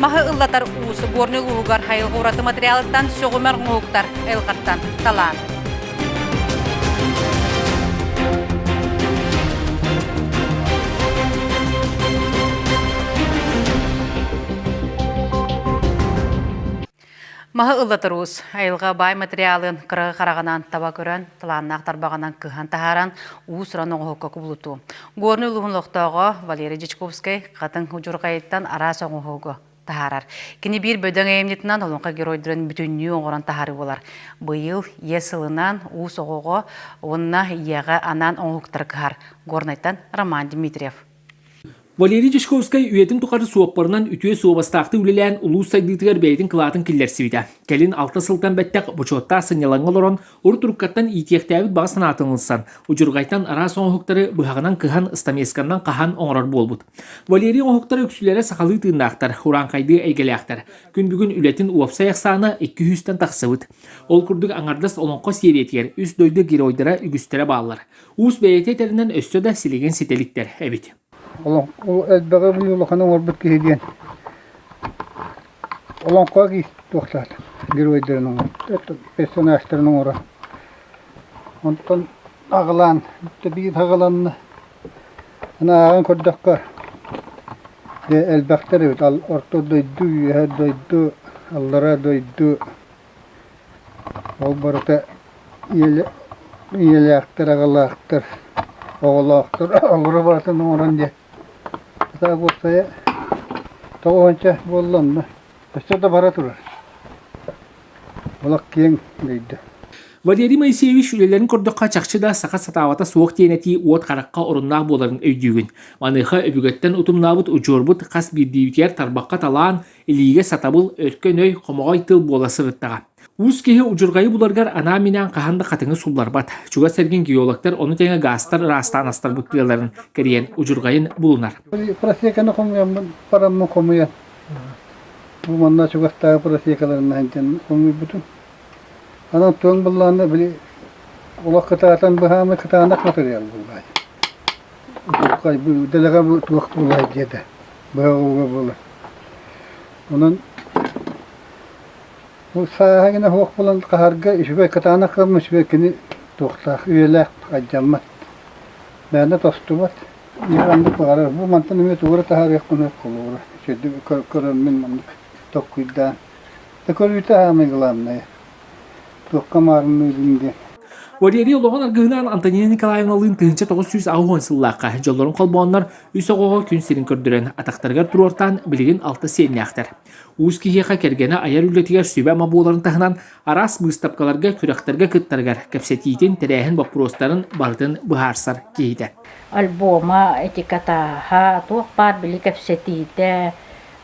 Маһы ыллатар уус Горнай улууһугар хайылҕа ураты материалыттан сөҕүмэр оҥоһуктар Элҕаттан талаан. Маһы ыллатарус, айылҕа баай материалын кыраҕы хараҕынан таба көрөн, талааннаах тарбаҕынан кыһан таһааран, уус-уран оҥоһукка кубулутуу. Горнай улууһун олохтооҕо Валерий Дьячковскай Хатыҥ Удьурҕайыттан араас оҥоһугу таһаарар. Кини биир бөдөҥ айымньытынан Олоҥхо геройдарын бүтүннүү оҥорон таһаарыы буолар. Быйыл Ийэ сылынан уус оҕоҕо уонна ийэҕэ анаан оҥоһуктары кыһар. Горнайтан Роман Дмитриев. Валерий Дьячковскай үйэтин тухары суоппарынан үтүө суобастаахтык үлэлээн улуус сайдыытыгар бэйэтин кылаатын киллэрсибитэ. Кэлин алта сылтан бэттэх бочуоттаах сынньалаҥҥа олорон, урут уруккаттан иитиэхтээбит баҕа санаатын ылсан, удьурҕайтан араас оҥоһуктары быһаҕынан кыһан, ыстамиэсканнан хаһан оҥорор буолбут. Валерий оҥоһуктара үксүлэрэ сахалыы тыыннаахтар, урааҥхайдыы эйгэлээхтэр. Күн бүгүн үлэтин уопсай ахсаана икки сүүстэн тахсыбыт. Ол курдук аҥардас Олоҥхо сиэриятигэр үс дойду геройдара үгүстэрэ бааллар. Уус бэйэтэ этэринэн өссө да силигин ситэ иликтэр эбит. Ол элбэҕи билии улахан оҥорбут киһи диэн олоҥхоҕо туохтаах геройдарын оҥорор, персонажтарын оҥорор. Онтон аҕылаан, биир аҕыланна. Ааҕан көрдөххө, элбэхтэр эбит. Орто дойду, үөһэ дойду, аллара дойду, Ол барыта ийэлээхтэр, аҕалаахтар, оҕолоохтор оҥоро барытын оҥорон диэн сатаабыт уопсайа тоҕо уонча буолла онно өссө да бара турар. Олох киэҥ дойду. Валерий Моисеевич үлэлэрин көрдөххө чахчы да саха сатаабата суох диэн этии уот харахха оруннаах буоларын өйдүүгүн. Маныаха өбүгэттэн утумнаабыт удьуорбут хас биирдиибитигэр тарбахха талаан, Илиигэ сатабыл, өркөн өй, хомоҕой тыл буола сырыттаҕа. Уус киһи удьурҕайы буларгар анаан-минээн хаһан да хатыҥы сулларбат. Чугас эргин геологтар ону тэҥэ гаастар ыраастаан астарбыт тыаларын кэрийэн удьурҕайын булунар. Просеканы хомуйаммын параммын хомуйан манна чугастааҕы просекаларына сылдьан хомуйбутум. Анан туон быллаанна били олох кытаатан быһаамы кытаанах матырыйал булбаай. Дулҕай бу дэлэҕэ бу туох булай диэтэ. быһаҕылга буолар. Онон ол сааһа гына суох булан хаһарга үчүгэй кытаанах кылым үчүгэй кини туохтаах үйэлээх айдаммат. Мээнэ тостубат. Ньыханнык баҕарар. Бу мантан эмиэ туора таһаарыахпына холуора. Сүрдү көрөммүн маннык токкуйдаан. Да көрүүтэ аамай главное. Туохха маарынныырын диэн. Валерий Олоҕун аргыһынаан Антонина Николаевналыын тыһыынча тоҕус сүүс аҕыс сыллаахха дьоллорун холбооннор Үс оҕоҕо күн сирин көрдөрөн, атахтарыгар туруортаан билигин алта сиэннээхтэр. Уус киһиэхэ кэргэнэ айар үлэтигэр сүбэ-ама буоларын таһынан, араас быыстапкаларга, күрэхтэргэ кыттарыгар кэпсэтиитин, тэрээһин боппуруостарын барытын быһаарсар киһитэ. Альбома, этикатааһа, туох баар били кэпсэтиитэ,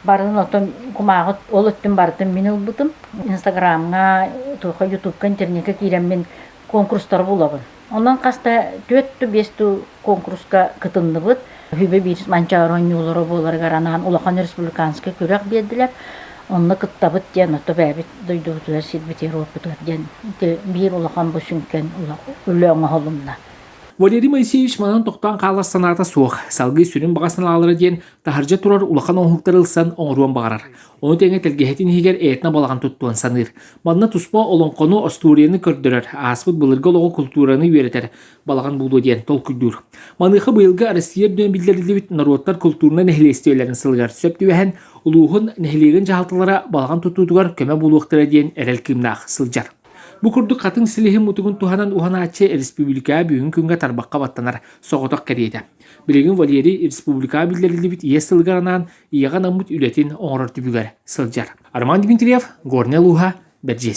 барын отон кумааҕы ол өттүн барытын мин ылбытым. Инстаграмҥа, туохха ютубка, интернетка киирэммин конкурстары булабын. Онон хас да түөрт ту биэс ту конкурска кытынныбыт. Үһүбэ биир Манчаары оонньуулара буоларыгар анаан улахан республиканскай күрэх биэрдилэр. Онно кыттабыт диэн отто бэйэбит дойдубутугар сирбит Европутугар диэн биир улахан бу сүҥкэн үлэ оҥоһулунна. Валерий Моисеевич манан тохтоон хаалар санаата суох. Салгыы сүрүн баҕасын аалара диэн таһырдьа турар улахан оҥоһуктары ылсан оҥоруон баҕарар. Ону тэҥэ тэлгэһэтин иһигэр эйэтинэ балаҕан туттуон саныыр. Манна туспа олоҥхону, остуоруйаны көрдөрөр, ааспыт былыргы олоҕу, култуураны үөрэтэр балаҕан буолуо диэн толкуйдуур. Маныаха быйылгы Арассыыйа үрдүнэн биллэриллибит норуоттар култуурунай нэһилиэстибэлэрин сылыгар сөп түбэһэн, улууһун, нэһилиэгин дьаһалталара балаҕан тутуутугар көмө буолуохтара диэн эрэл кыымнаах сылдьар. Бу курдук хатыҥ силиһин мутугун туһанан уһанааччы республикаҕа бүгүн күҥҥэ тарбахха баттанар соҕотох кэриэтэ. Билигин Валерий республикаҕа биллэриллибит иэс сылыгар анаан ийэҕэ анаммыт үлэтин оҥорор түбүгэр сылдьар. Роман Дмитриев, Горнай улууһа, Бэрдьиэс.